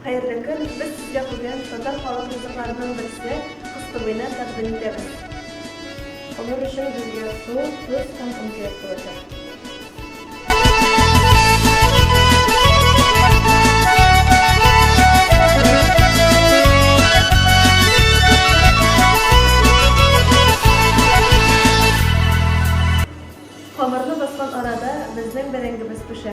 Хәерле көн! Без сезгә бүген татар халык ризыкларының берсе кыстыбыйны тәкъдим итәбез. Алар өчен безгә су, тоз һәм конфет булачак. Камырны баскан арада безнең бәрәңгебез пешә.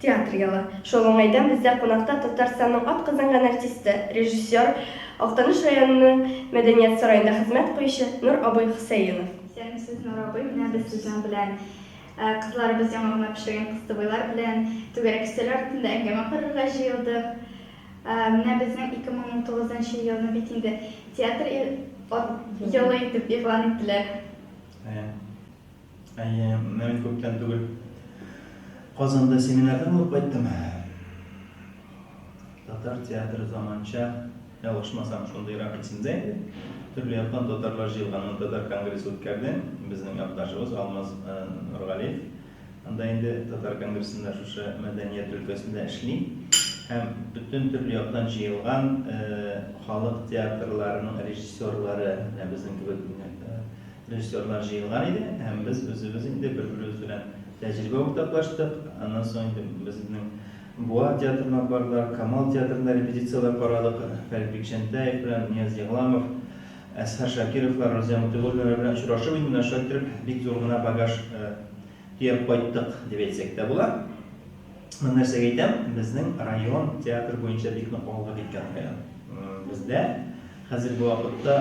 Театр елы. Шул уңайдан бездә кунакта Татарстанның атказанган артисты, режиссер, Актаныш районының Мәдәният сараенда хезмәт куючы Нур абый Хөсәенов. Исәнмесез, Нур абый! Менә без сезнең белән кызларыбыз яңа гына пешергән кыстыбыйлар белән түгәрәк өстәл артында әңгәмә корырга җыелдык. Менә безнең 2019 нчы елны бит инде Театр елы итеп игълан иттеләр. Әйе, мин күптән түгел Казанда семинарда булып кайттым. Татар театры заманча, ялгышмасам, шундыйрак исемдә иде. Төрле яктан татарлар җыелган татар конгрессы үткәрде. Безнең якташыбыз Алмаз э, Нургалиев анда инде татар конгрессында шушы мәдәният өлкәсендә эшли һәм бөтен төрле яктан җыелган э, халык театрларының режиссерлары, менә безнең кебек э, Режиссерлар җыелган иде һәм без үзебез инде бер-беребез белән тәҗрибә уртаклаштык. Аннан соң инде безнең Буа театрына бардылар, Камал театрында репетицияләр карадык. Фәрит Бикчәнтәев белән Нияз Егламов, Әсхәр Шакировлар, Розия Мотыйгуллиннар белән очрашып инде менә шулай кереп бик зур гына багаж төяп кайттык дип әйтсәк тә була. Мин нәрсәгә әйтәм, безнең район театр буенча бик нык алга киткән район. Бездә хәзерге вакытта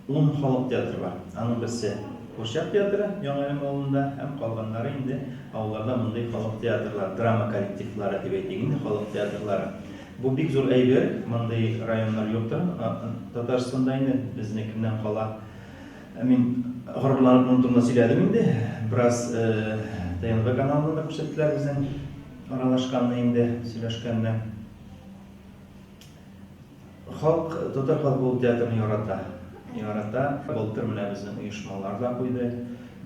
Ун халык театры бар. Аның берсе, Курчак театры, Яңа Әлем авылында һәм калганнары инде авылларда мондый халык театрлары, драма коллективлары дип әйтик инде, халык театрлары. Бу бик зур әйбер, мондый районнар юк та Татарстанда инде, безнекеннән кала. Мин горурланып моның турында сөйләдем инде, бераз ТНВ каналында да күрсәттеләр безнең аралашканны инде, сөйләшкәнне. Халк, татар халкы ул театрны ярата. Ярата. Былтыр менә безнең оешмалар да куйды.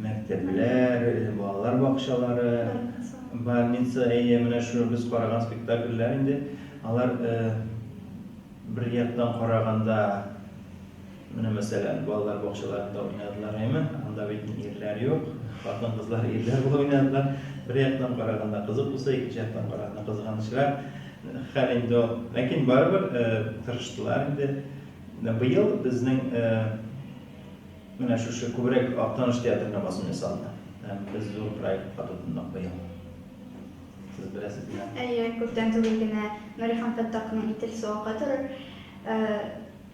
Мәктәпләр, балалар бакчалары, больница, әйе, менә шул без караган спектакльләр инде. Алар бер яктан караганда, Менә мәсәлән, балалар бакчаларында уйнадылар, әйме? Анда бит ирләр юк. Хатын-кызлар ирләр булып уйнадылар. Бер яктан караганда кызык булса, икенче яктан караганда кызганычрак хәл инде ул. Ләкин барыбер тырыштылар инде. Быел безнең менә шушы күбрәк Актаныш театрына басым ясалды. Без зур проектка тотындык быел. Сез беләсез менә. Әйе, күптән түгел генә Нурихан Фәттаховның Итил суыгы туры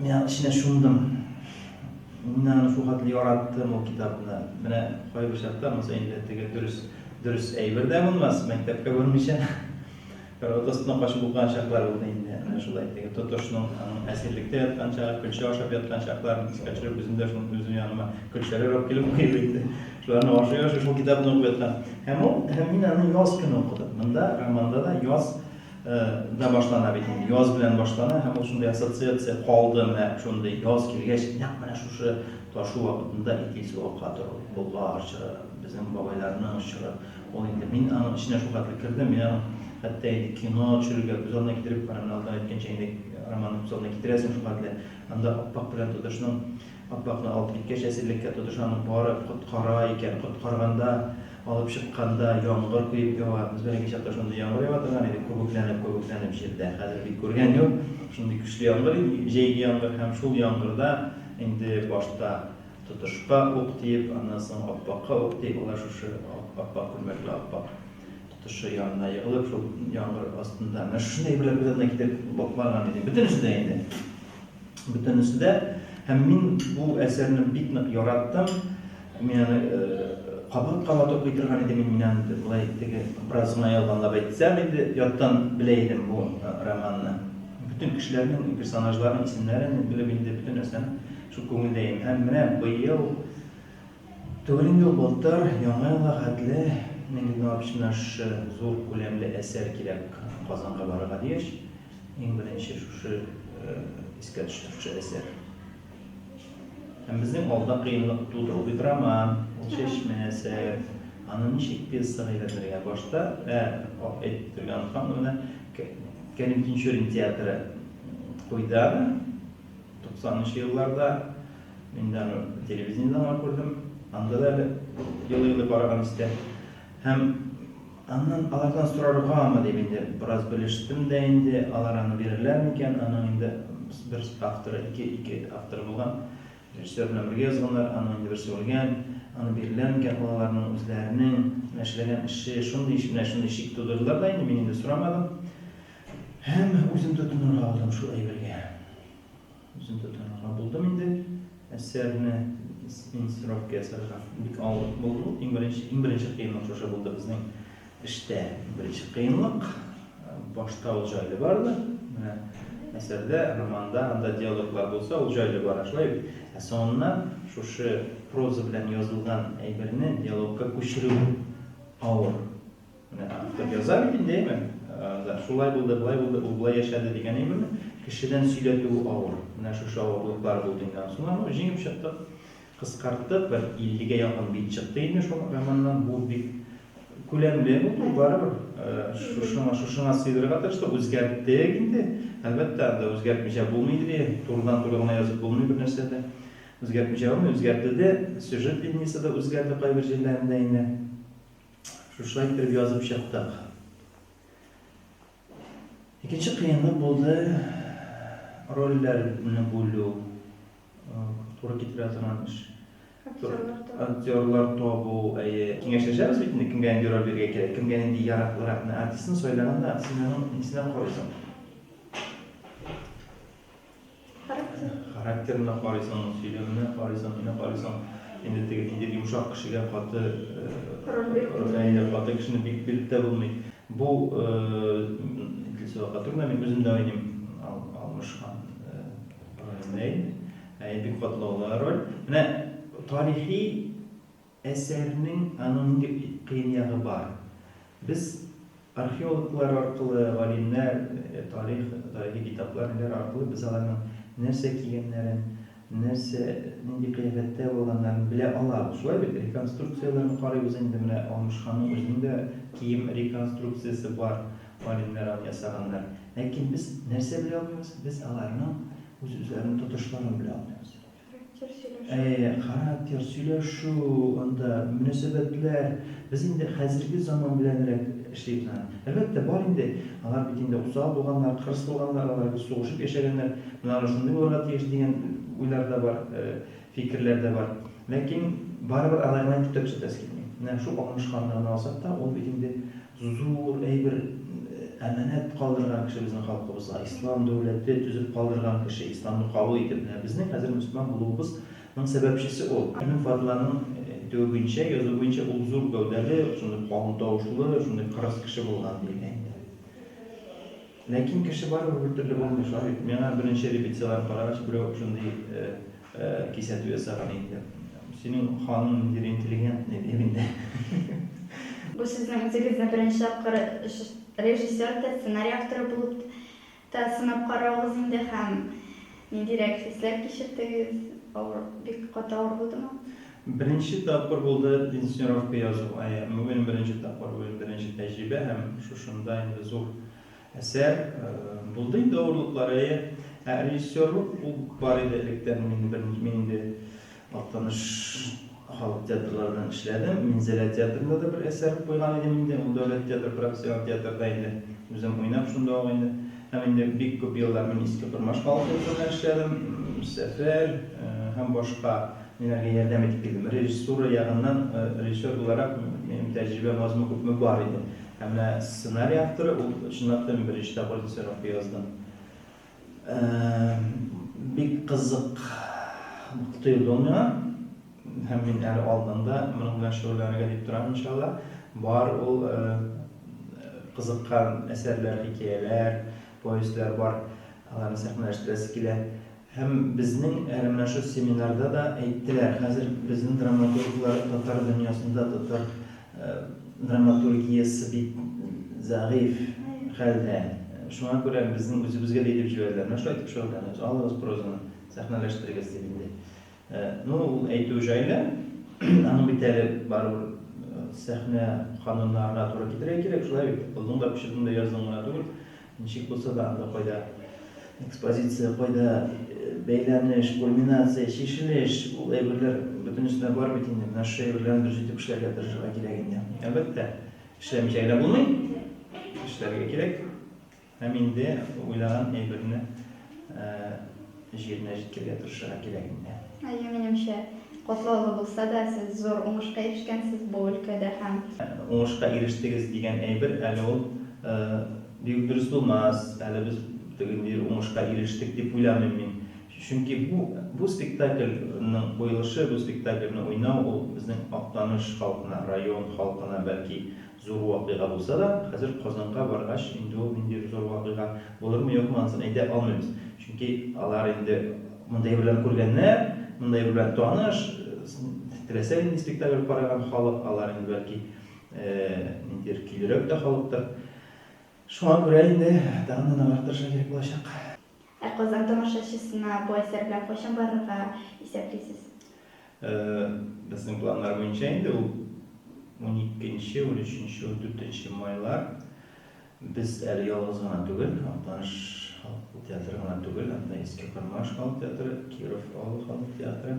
Мин аның эченә чумдым. Мин аны шул хәтле яраттым ул китапны. Менә кайбер чакта монысы инде теге дөрес дөрес әйбер дә булмас, мәктәпкә бармыйча карават астына качып укыган чаклар булды инде. Менә шулай теге тотышның аның әсирлектә яткан чагы, көлчә ашап яткан чакларын искә төшереп, үзем дә шуны үзем яныма көлчәләр алып килеп куеп инде. Шуларны ашый-ашый шул китапны укып яткан. Һәм ул, һәм мин аны яз көне укыдым. Монда романда да яз да башлана бит инде яз белән башлана һәм ул шундый ассоциация калды менә шундый яз килгәч нәкъ менә шушы ташу вакытында итил сугакка тору болгар чоры безнең бабайларның чоры ул инде мин аның эченә шул хәтле кердем мин аны хәтта инде кино төшерергә күз алдына китереп барам алдан әйткәнчә инде роман күз алдына китерәсең шул хәтле анда аппак белән тотышның Аппакны алып киткәч, әсирлеккә тотыш аны барып коткара икән. Коткарганда, алып чыкканда яңгыр коеп ява. Без бәләкәй чакта шундый яңгыр ява торган иде, күбекләнеп, күбекләнеп җирдә. Хәзер бит күргән юк шундый көчле яңгыр, җәйге яңгыр. Һәм шул яңгырда инде башта тотышка ук тиеп, аннан соң аппакка ук тиеп, алар шушы аппак күлмәкле аппак. Тышы янына егылып, шул яңгыр астында. Менә шушы әйберләр күз алдына китереп баклаган идем. Бөтенесе дә инде. Бөтенесе дә. Һәм мин бу әсәрне бик нык яраттым. Мин аны кабат кабат укый торган идем. Мин аны болай теге бераз гына ялганлап әйтсәм инде, яттан белә идем бу романны. Бөтен кешеләрнең, персонажларның исемнәрен белеп инде бөтен нәрсәне шул күңелдә идем. Һәм менә быел Төгәл ел былтыр, Яңа елга хәтле, Мин генә община шушы зур күләмле әсәр кирәк Казанга барырга дигәч, иң беренче шушы искә төштерүче әсәр. Һәм безнең алда кыенлык туды. Ул бит роман, ул чәчмә әсәр. Аны ничек пьесага әйләндергә? Башта, ә, әйтеп бетерергә оныткан, менә Кәрим Тинчурин театры куйды аны. Туксанынчы елларда мин дә аны телевидениедән генә күрдем, анда да әле елый-елый караган истә. Һәм аннан алардан сораргамы дип инде бераз белештем дә инде, алар аны бирерләр микән, аның инде бер авторы, ике, ике авторы булган, режиссер белән бергә язганнар, аның инде берсе үлгән, аны бирерләр микән, ул аларның үзләренең менә эшләгән эше, шундый ич, менә шундый шик тудырдылар да инде, мин инде сорамадым. Һәм үзем тотынырга булдым шул әйбергә. Үзем тотынырга булдым инде. Әсәрне инсценировка ясарга бик авырлык булды. Иң беренче, иң беренче кыенлык шушы булды безнең эштә. Беренче кыенлык башта ул җайлы барды. Менә әсәрдә, романда, анда диалоглар булса, ул җайлы бара, шулай бит. Ә соңыннан шушы проза белән язылган әйберне диалогка күчерү авыр. Менә автор яза бит инде, әйме? Ә, шулай булды, былай булды, ул былай яшәде дигән әйберне кешедән сөйләтүе авыр. Менә шушы авырлыклар булды инде. Анысына ну җиңеп чыктык. Кыскарттык, бер 50-гә якын бит чыкты инде шул романнан. Бу бик күләмле булды, барыбер. Ә, шушыңа, шушыңа сыйдырырга тырыштык, үзгәрттек инде. Әлбәттә, анда үзгәртмичә булмый инде, турыдан-туры гына язып булмый бер нәрсә дә. Үзгәртмичә булмый, үзгәртелде, сюжет линиясе дә үзгәрде кайбер җирләрендә инде. Шушылай итеп язып чыктык. Икенче кыенлык булды рольләрне бүлү, туры китерә торган эш. Актерлар табу, әйе. Киңәшләшәбез бит инде, кемгә нинди роль бирергә кирәк, кемгә нинди яраклырак. Менә артистны сайлаганда, артистның нисенә карыйсың. Характер. Характерына карыйсың, сөйләменә карыйсың, нинә карыйсың. Инде теге нинди йомшак кешегә каты Роль биреп әйе, каты кешене бик биреп тә булмый. Бу Идлис Вәкатуллина мин үзем дә уйныйм Алмыш хан ролендә инде. Әйе, бик катлаулы роль. Менә тарихи Әсәрнең аның нинди кыен ягы бар? Без археологлар аркылы, галимнәр, тарих, тарихи китаплар, ниләр аркылы без аларның нәрсә кигәннәрен, нәрсә, нинди кыяфәттә булганнарын белә алабыз. Шулай бит? Реконструкцияләрне карыйбыз инде, менә Алмыш ханның үзенең дә кием реконструкциясе бар, галимнәр аны ясаганнар. Ләкин без нәрсә белә алмыйбыз? Без аларның үз-үзләренең тотышларын белә алмыйбыз. Характер сөйләшү. Әйе, характер, сөйләшү, анда мөнәсәбәтләр. Без инде хәзерге заман беләнрәк эшлибез аны. Әлбәттә, бар инде, алар бит инде усал булганнар, кырыс булганнар, алар бит сугышып яшәгәннәр, менә алар шундый булырга тиеш дигән уйлар да бар, фикерләр дә бар. Ләкин барыбер алай гына итеп тә төзәтәсе килми. Менә шул алмашканны гына алсак та, ул бит инде Зур әйбер, әманәт калдырган кеше безнең халкыбызга, ислам дәүләте төзеп калдырган кеше, исламны кабул итеп, менә безнең хәзер мөселман булуыбыз ның сәбәпчесе ул. Минем Фатиманың әйтүе буенча, язуы буенча ул зур гәүдәле, шундый калын тавышлы, шундый кырыс кеше булган, диелә инде. Ләкин кеше барыбер бер төрле булмый шуа бит. Миңа беренче репетицияләрне карагач, берәү шундый кисәтү ясаган инде. Синең ханың ниндидер интеллигентный, ди инде. Бу сезнең үзегезне беренче тапкыр режиссер да, сценарий авторы булып та сынап каравыгыз инде һәм. Ниндирәк хисләр кичердегез? Авыр, бик каты авыр булдымы? Беренче тапкыр булды инсценировка язу, әйе, бүген беренче тапкыр, бүген беренче тәҗрибә һәм шушында инде зур әсәр. Булды инде авырлыклар, әйе. Ә режиссерлык ул бар иде электән, мин инде Актаныш халык театрларында да эшләдем. Минзәлә театрында да бер әсәр куйган идем инде. Ул дәүләт театры, профессиональ театрда инде. Үзем уйнап шунда ук инде. Һәм инде бик күп еллар мин Иске Кормаш халык театрында эшләдем. Сәфәр һәм башка ниләргә ярдәм итеп килдем. Режиссура ягыннан, режиссер буларак, минем тәҗрибәм азмы-күпме бар иде. Ә менә сценарий авторы, ул чынлап та мин беренче тапкыр Режиссер акты яздым. Бик кызык тоелды ул миңа. Һәм мин әле алдан да моның белән шөгыльләнергә дип торам, иншалла. Бар ул кызыккан әсәрләр, хикәяләр, повестьләр бар. Аларны сәхнәләштерәсе килә. Һәм безнең әле менә шул семинарда да әйттеләр, хәзер безнең драматурглар татар дөньясында, татар Драматургиясе бик зәгыйфь хәлдә. Шуңа күрә безнең үзебезгә дә әйтеп җибәрделәр, менә шулай итеп шөгыльләнегез, алыгыз прозаны, сәхнәләштерегез, дип инде. Ну, ул әйтү җайлы, аның бит әле барыбер сәхнә кануннарына туры китерергә кирәк, шулай бит, укыдың да, пычыдың да, яздың гына түгел. Ничек булса да анда кайда экспозиция, кайда бәйләнеш, кульминация, чишелеш, ул әйберләр бөтенесенә бар бит инде. Менә шушы әйберләрне дөрес итеп эшләргә тырышырга кирәк инде. Әлбәттә, эшләмичә генә булмый. Эшләргә кирәк. Һәм инде уйлаган әйберне Җиренә җиткерергә тырышырга кирәк инде. Әйе, минемчә, катлаулы булса да, сез зур уңышка ирешкәнсез бу өлкәдә һәм. Уңышка ирештегез дигән әйбер, әле ул бигүк дөрес булмас, әле без теге ниндидер уңышка ирештек дип уйламыйм мин. Чөнки бу, бу спектакльның куелышы, бу спектакльне уйнау, ул безнең Актаныш халкына, район халкына, бәлки, Зур вакыйга булса да, хәзер Казанга баргач, инде ул ниндидер зур вакыйга булырмы-юкмы, анысын әйтә алмыйбыз. Чөнки алар инде мондый әйберләрне күргәннәр, мондый әйбер белән таныш, теләсә нинди спектакль караган халык, алар инде бәлки ниндидер көйлерәк тә халыктыр. Шуңа күрә инде тагын да ныграк тырышырга кирәк булачак. Ә Казан тамашачысына бу әсәр белән кайчан барырга исәплисез? Безнең планнар буенча инде ул уникенче, унөченче, ундүртенче майлар. Без әле ялгыз гына түгел, Актаныш халык театры гына түгел, анда Иске Кармаш халык театры, Киров авылы халык театры,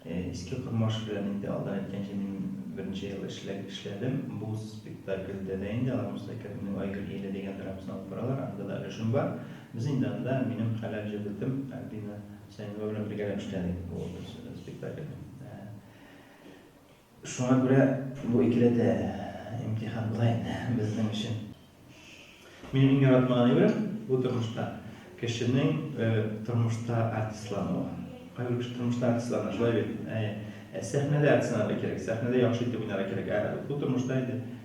Иске Кормаш белән инде алдан әйткәнчә мин берничә ел эшләдем. Бу спектакльдә дә инде алар Муса Кәримнең Айгөл ияле дигән драмасын алып баралар. Анда да өлешем бар. Без инде анда, минем хәләл җебетем Альбина Сәимова белән бергәләп эшләдек бу спектакльдә. Шуңа күрә бу икеләтә имтихан була инде безнең өчен. Минем иң яратмаган әйберем бу тормышта кешенең тормышта артистлануы. Кайбер кеше тормышта артистлана, шулай бит? Әйе. Сәхнәдә артистланырга кирәк, сәхнәдә яхшы итеп уйнарга кирәк. Ә бу тормышта инде